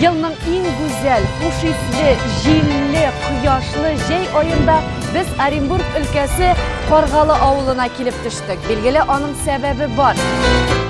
Елның иң гүзәл, хуш исле, җилле, кояшлы җәй аенда без Оренбург өлкәсе Каргалы авылына килеп төштек. Билгеле, аның сәбәбе бар.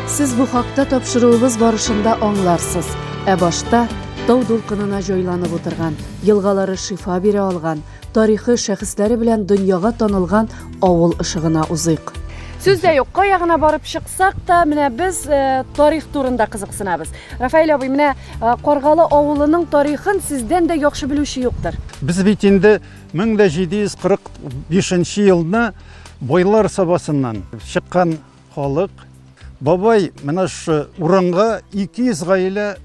Сез бу хакта тапшыруыбыз барышында аңларсыз. Ә башта тау дулкынына җайланып утырган, елгалары шифа бирә алган, Тарихы, шәхесләре белән дөньяга танылган авыл ышыгына узыйк. Сүз дә юк, кая гына барып чыксак та, менә без э, тарих турында кызыксынабыз. Рафаэль абый, менә э, Каргалы авылының тарихын сездән дә яхшы белүче юктыр. Без бит инде 1745 елны бойлар сабасыннан чыккан халык. Бабай менә шушы урынга 200 гаилә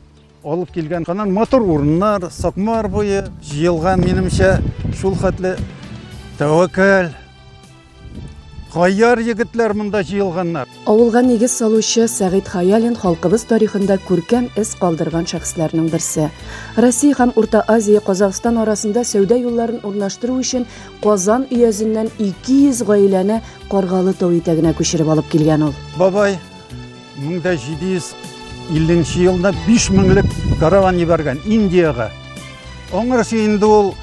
Алып килгән канал матур урыннар, Сакмар буе җыелган, минемчә, шул хәтле тәвәккәл, Каяр егетләр монда җыелганнар. Авылга нигез салучы Сәгыйть Хаялин халкыбыз тарихында күркәм эз калдырган шәхесләрнең берсе. Россия һәм Урта Азия Казахстан арасында сәүдә юлларын урнаштыру өчен Казан өязеннән 200 гаиләне Каргалы тау итәгенә күчереп алып килгән ул. Бабай 1750 нче елда биш меңлек караван ебәргән Индиягә. Аңарсы инде ул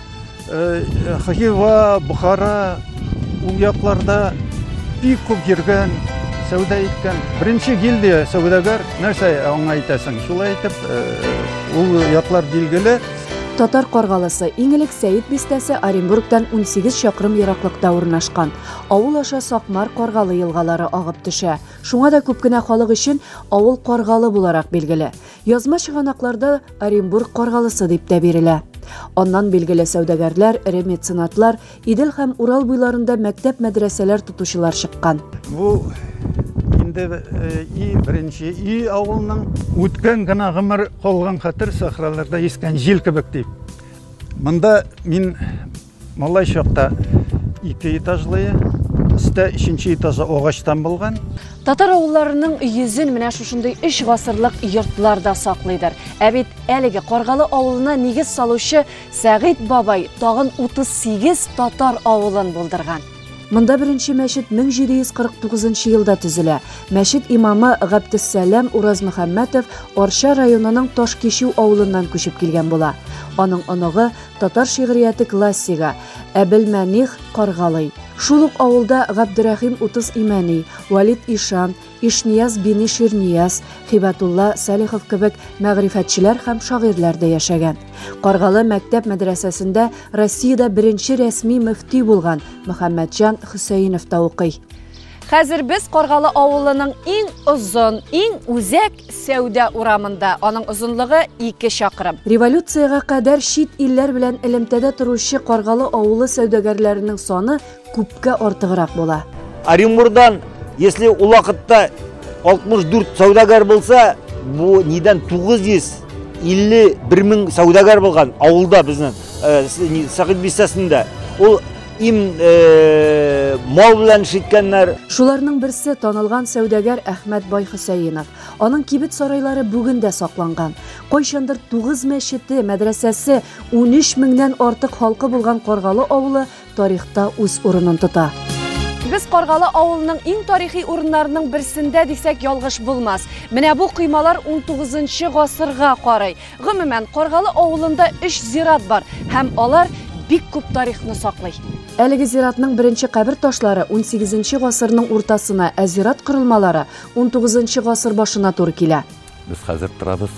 Хива, Бухара, ул якларда бик күп йөргән, сәүдә иткән. Беренче гильдия сәүдәгәр, нәрсә аңа әйтәсең? Шулай итеп, ул яклар билгеле. Татар Каргалысы, иң элек Сәет бистәсе Оренбургтан 18 чакрым ераклыкта урнашкан. Авыл аша Сакмар, Каргалы елгалары агып төшә. Шуңа да күп кенә халык өчен авыл Каргалы буларак билгеле. Язма чыганакларда Оренбург Каргалысы дип тә бирелә. Аннан билгеле сәүдәгәрләр, эре меценатлар, Идел һәм Урал буйларында мәктәп-мәдрәсәләр тотучылар чыккан. Бу инде и беренче и авылның. Үткән генә гомер, калган хәтер сахраларда искән җил кебек, ди. Монда мин Малай чакта ике этажлые, өстә өченче этажы агачтан булган. Татар авылларының йөзен менә шушындый өч гасырлык йортлар да саклыйдыр. Ә бит әлеге Каргалы авылына нигез салучы Сәгыйть бабай тагын 38 татар авылын булдырган. Монда беренче мәчет 1749 елда төзелә. Мәчет имамы Габдессәлам Уразмөхәммәтов Арча районының Ташкичү авылыннан күчеп килгән була. Аның оныгы Татар шигърияте классигы Әбелмәних Каргалый. Шул ук авылда Габдерәхим Утыз Имәни, Валид Ишан, Ишнияз Бини Ширнияз, Хибатулла Сәлихов кебек мәгърифәтчеләр һәм шагыйрьләр дә яшәгән. Каргалы мәктәп мәдрәсәсендә Россиядә беренче рәсми мөфти булган Мөхәммәтҗан Хөсәенов та укый. Хәзер без Каргалы авылының иң озын, иң үзәк сәүдә урамында. Аның озынлыгы 2 чакрым. Революциягә кадәр чит илләр белән элемтәдә торучы Каргалы авылы сәүдәгәрләренең саны күпкә артыграк була. Оренбурдан, если ул вакытта 64 сәүдәгәр булса, бу нидән 951 мең сәүдәгәр булган авылда безнең э, Сәгыйть бистәсендә. Ул Им э, мал белән шиткәннәр. Шуларның берсе танылган сәүдәгәр Әхмәт бай Хөсәенов. Аның кибет сарайлары бүген дә сакланган. Кайчандыр 9 мәчете, мәдрәсәсе, 13 меңнән артык халкы булган Каргалы авылы тарихта үз урынын тота. Без Каргалы авылының иң тарихи урыннарының берсендә дисәк ялгыш булмас. Менә бу коймалар 19 гасырга карый. Гомумән, Каргалы авылында өч зират бар һәм алар бик күп тарихны саклый. Әлеге зиратның беренче кабер ташлары унсигезенче гасырның уртасына, ә зират корылмалары унтугызынчы гасыр башына туры килә. Без хәзер торабыз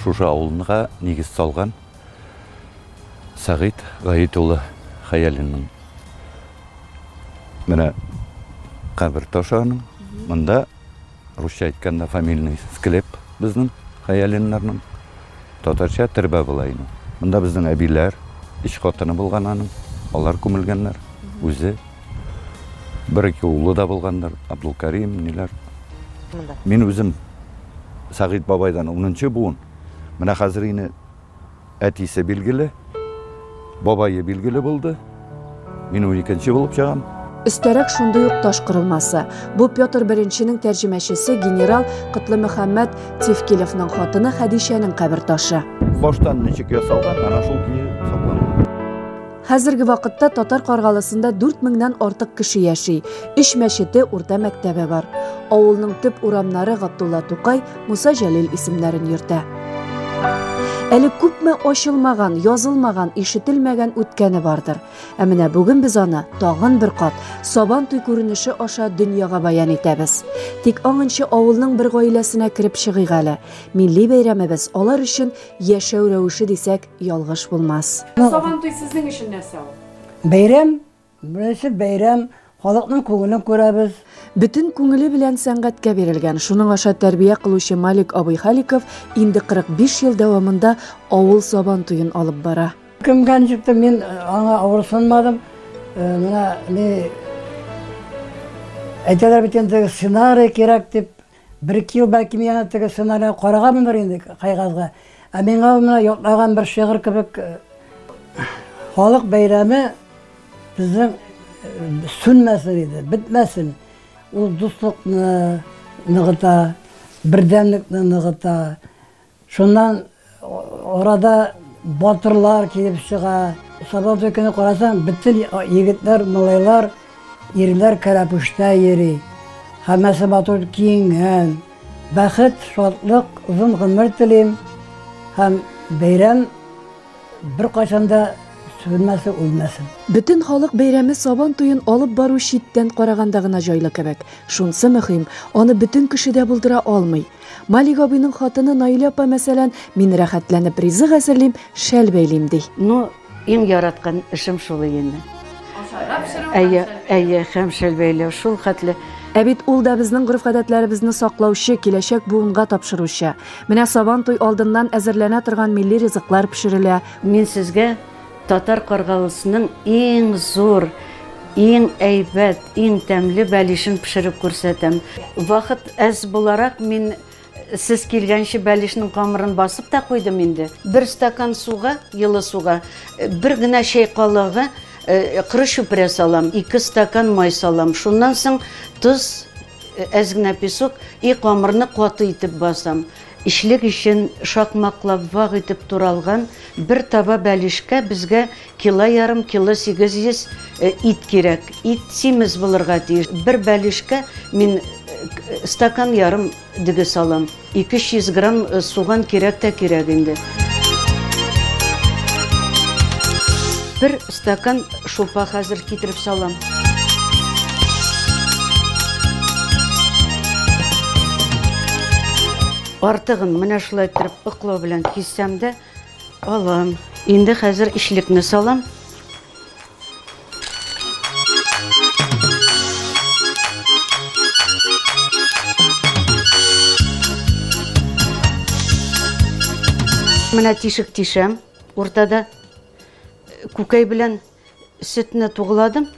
шушы авылнга нигез салган Сәгыйть Гаит улы Хәялинның менә кабер ташы аның. Монда Русча әйткәндә фамильный склеп безнең Хәялиннарның. Татарча тербә була иде. Монда безнең әбиләр, өч хатыны булган аның. Алар күмелгәннәр. Үзе. Бер-ике улы да булгандыр. Абдулкарим, ниләр. Мин үзем Сәгыйть бабайдан унынчы буын. Менә хәзер ине Әтисе билгеле, бабае билгеле булды. Мин уникенче булып чыгам. Өстәрәк шундый ук таш корылмасы. Бу Петр беренченең тәрҗемәчесе генерал Котлымөхәммәт Тевкилевның хатыны Хәдичәнең кабер ташы. Баштан ничек ясалган, ана шул көе сакланган. Хәзерге вакытта Татар Каргалысында 4 меңнән артык кеше яши. Өч мәчете, урта мәктәбе бар. Авылның төп урамнары Габдулла Тукай, Муса Җәлил исемнәрен йөртә. Әле күпме ачылмаган, язылмаган, ишетелмәгән үткәне бардыр. Ә менә бүген без аны тагын бер кат Сабан туй күренеше аша дөньяга баян итәбез. Тик аңынчы авылның бер гаиләсенә кереп чыгыйк әле. Милли бәйрәмебез алар өчен яшәү рәвеше дисәк, ялгыш булмас. Сабантуй сезнең өчен нәрсә ул? Бәйрәм, беренче бәйрәм, халыкның күңелен күрәбез. Бөтен күңеле белән сәнгатькә бирелгән, шуның аша тәрбия кылучы Малик абый Халиков инде 45 ел дәвамында авыл Сабан туен алып бара. Кемгә ничектер мин э, аңа авырсынмадым. Э, менә ни әйтәләр бит инде сценарий кирәк дип, Бер-ике ел, бәлки, мин аны теге сценарийга караганмындыр инде, кәгазьгә. Ә миңа ул менә ятлаган бер шигырь кебек, Халык бәйрәме безнең сүнмәсен иде, бетмәсен. Ул дуслыкны ныгыта, бердәмлекне ныгыта, Шуннан арада батырлар килеп чыга. Сабантуй көне карасаң, бөтен егетләр, малайлар, ирләр кәләпүштә йөри. Һәммәсе матур киенгән. Бәхет, шатлык, озын гомер телим һәм бәйрәм беркайчан да сүнмәсен, үлмәсен. Бөтен халык бәйрәме Сабан туен алып бару читтән караганда гына җайлы кебек. Шунсы мөһим, аны бөтен кеше дә булдыра алмый. Малик абыйның хатыны Наилә апа, мәсәлән, мин рәхәтләнеп ризык әзерлим, шәл бәйлим, ди. Ну, иң яраткан эшем шул инде. Ашарга пешерү. Әйе, әйе, һәм шәл бәйләү шул хәтле. Ә бит ул да безнең гореф-гадәтләребезне саклаучы, киләчәк буынга тапшыручы. Менә Сабан туй алдыннан әзерләнә торган милли ризыклар пешерелә. Мин сезгә Татар Каргавысының иң зур, иң әйбәт, иң тәмле бәлишен пешереп күрсәтәм. Вакыт әз буларак, мин сез килгәнче бәлишнең камырын басып та куйдым инде. Бер стакан суга, йылы суга, бер генә чәй калагы коры чүпрә салам, ике стакан май салам. Шуннан соң тоз, әз генә песок и камырны каты итеп басам. Эчлек өчен шакмаклап вак итеп туралган бер таба бәлешкә безгә кило ярым, кило 800 ит кирәк. Ит симез булырга тиеш. Бер бәлешкә мин стакан ярым диге салам. 200 грамм суган кирәк тә кирәк инде. Бер Стакан шулпа хәзер китереп салам. Артыгын менә шулай иттереп ыклау белән киссәм дә алам. Инде хәзер ишлекне салам. Менә тишек тишәм уртада. Күкәй белән сөтне тугладым.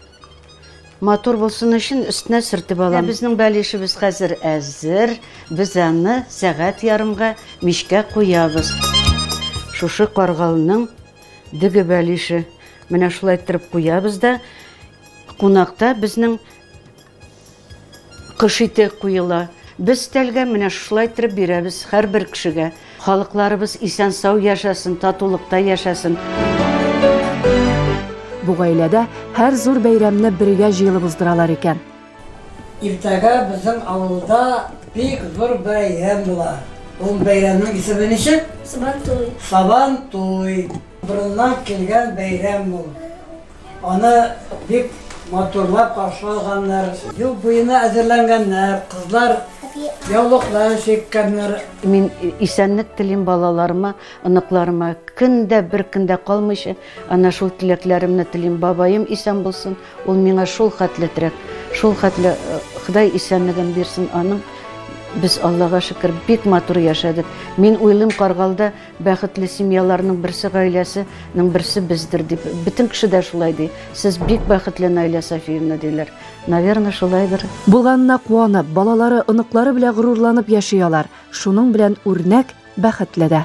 Матур булсын өчен өстенә сөртеп алам. Безнең бәлешебез хәзер әзер. Без аны сәгать ярымга мичкә куябыз. Шушы каргалның дөге бәлеше. Менә шулай иттереп куябыз да кунакта безнең Кош ите куела. Без тәлгә менә шулай иттереп бирәбез һәрбер кешегә. Халыкларыбыз исән-сау яшәсен, татулыкта яшәсен! Бу гаиләдә һәр зур бәйрәмне бергә җыелып уздыралар икән. Иртәгә безнең авылда бик зур бәйрәм була. Ул бәйрәмнең исеме ничек? Сабантуй. Сабантуй. Борыннан килгән бәйрәм ул. Аны бик матурлап каршы алганнар. Юл буена әзерләнгәннәр, кызлар яулыклар чиккәннәр. Мин исәнлек телим балаларыма, оныкларыма. Көн дә, бер көн дә калмыйча, әнә шул теләкләремне телим. Бабаем исән булсын, ул миңа шул хәтле терәк, шул хәтле Ходай исәнлеген бирсен аның. Без, Аллага шөкер, бик матур яшәдек. Мин уйлыйм, Каргалда Бәхетле семьяларның берсе гаиләсе ның берсе бездер дип бөтен кеше дә шулай ди. Сез бик бәхетле Наилә Сафиевна диләр. Наверное шулайдыр. Булганына куанып, балалары, оныклары белә горурланып яши алар. Шуның белән үрнәк, бәхетле дә.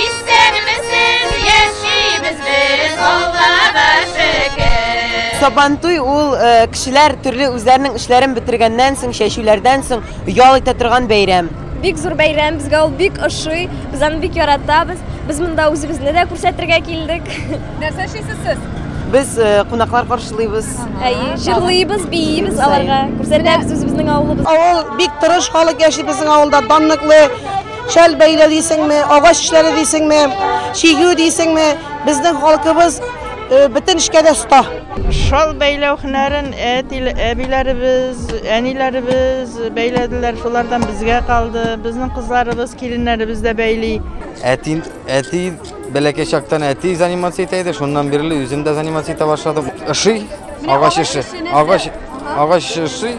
Исәнмесез, яшибез без, Аллага шөкер. Сабантуй ул кешеләр төрле үзләренең эшләрен бетергәннән соң, чәчүләрдән соң ял итә торган бәйрәм. Бик зур бәйрәм, безгә ул бик ошый, без аны бик яратабыз. Без монда үзебезне дә күрсәтергә килдек. Нәрсә эшлисез сез? Без кунаклар каршылыйбыз. Әйе, җырлыйбыз, биибез аларга, күрсәтәбез үзебезнең авылыбызны. Авыл бик тырыш халык яши безнең авылда, данлыклы. Шәл бәйләү дисеңме, агач эшләре дисеңме, чигү дисеңме, безнең халкыбыз э, бөтен эшкә дә оста. Шал бәйләү һөнәрен әбиләребез, әниләребез бәйләделәр, шулардан безгә калды. Безнең кызларыбыз, киленнәребез дә бәйли. Әти, әти бәләкәй чактан әти занимация итә иде, шуннан бирле үзем дә занимация итә башладым. Ышый, агач эше, агач, агач ышый.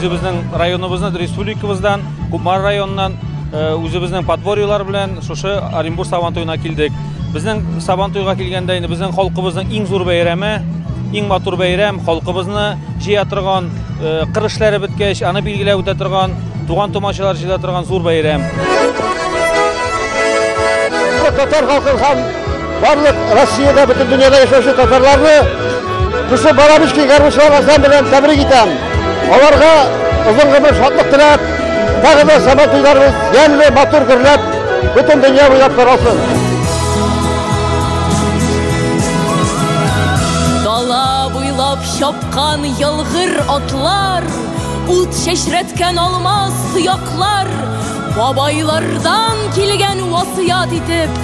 үзебезнең районыбыздан, республикабыздан, Кумар районыннан э, үзебезнең подворьелар белән шушы Оренбург Сабантуена килдек. Безнең Сабантуйга килгәндә инде безнең халкыбызның иң зур бәйрәме, иң матур бәйрәм, халкыбызны җыя торган, э, кыр эшләре беткәч, аны билгеләп үтә торган, туган тумачалар җыя торган зур бәйрәм. Татар халкы һәм Барлык Россиядә, бөтен дөньяда яшәүче татарларны шушы Барабичкин гармунчылар ансамбле белән тәбрик итәм. Аларга озын гомер шатлык теләп, тагы да сәбәт туйларыбыз ямьле, матур гөрләп, бөтен дөнья буйлап таралсын. Дала буйлап чапкан ялгыр атлар, ут чәчрәткән алмаз суяклар, бабайлардан килгән васыят итеп,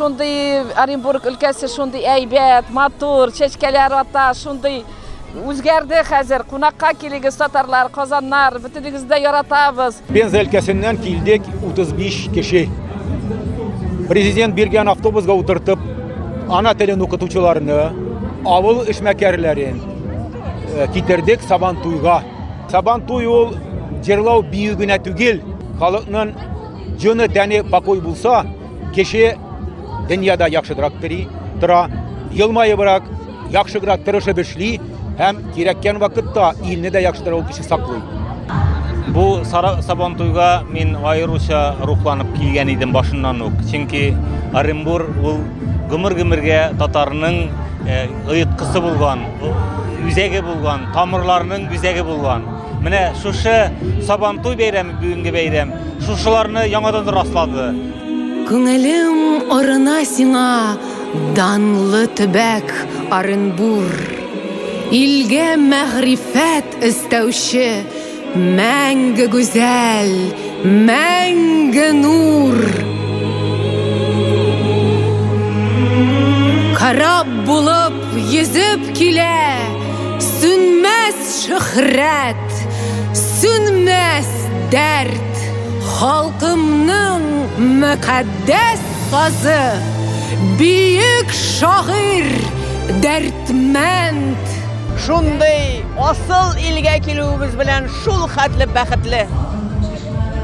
Шундый Оренбург өлкәсе шундый әйбәт, матур, чәчкәләр ата, шундый үзгәрде хәзер. Кунакка килегез, татарлар, казаннар, бөтенегезне дә яратабыз. Пенза өлкәсеннән килдек 35 кеше. Президент биргән автобусга утыртып, ана телен укытучыларны, авыл эшмәкәрләрен, э, китердек сабан туйга сабан туй ул җырлау бию генә түгел халыкның җоны тәне покой булса кеше дөньяда яхшыдырак тери тора елмаебрак яхшыграк тырышып эшли һәм кирәккән вакытта илне дә яхшыдыр ул кеше саклый бу сабан туйга мин аеруча рухланып килгән идем башыннан ук чөнки оренбур ул гомер гомергә татарның э, оеткысы булган үзәге булган, тамырларының үзәге булган. Менә шушы Сабантуй бәйрәме бүгенге бәйрәм шушыларны яңадан раслады. Күңелем орына сиңа данлы төбәк Оренбур. Илгә мәгърифәт өстәүче Мәңге гүзәл, мәңге нур. Кораб булып йөзеп килә, сүнмәс шөһрәт, сүнмәс дәрт. Халкымның мөкатдәс сазы, биек шагыйрь Дәрдмәнд. Шундый асыл илгә килүебез белән шул хәтле бәхетле.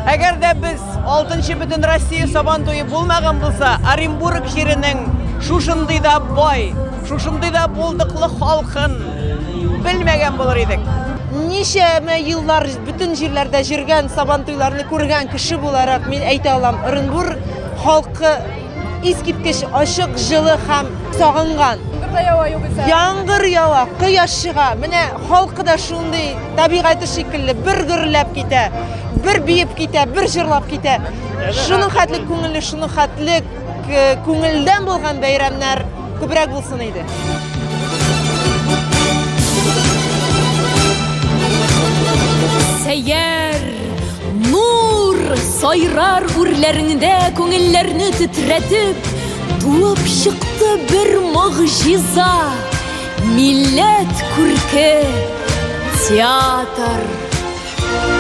Әгәр дә без 6 бөтен Россия сабан туе булмаган булса, Оренбург җиренең шушындый да бай, шушындый да булдыклы халкын белмәгән булыр идек. Ничәмә еллар бөтен җирләрдә җөргән, сабан туйларны күргән кеше буларак мин әйтә алам, Оренбург халкы Искиткеч ачык, җылы һәм сагынган. Кырда ява югыйсә. Яңгыр ява, кояш чыга. Менә халкы да шундый табигате шикелле бер гөрләп китә, бер биеп китә, бер җырлап китә. Шуның хәтле күңелле, шуның хәтле э, күңелдән булган бәйрәмнәр Күбрәк булсын иде. Сәйяр, нур, сайрар үрләреңдә күңелләрне тетретеп, туып чыкты бер могҗиза. Милләт күрке театр.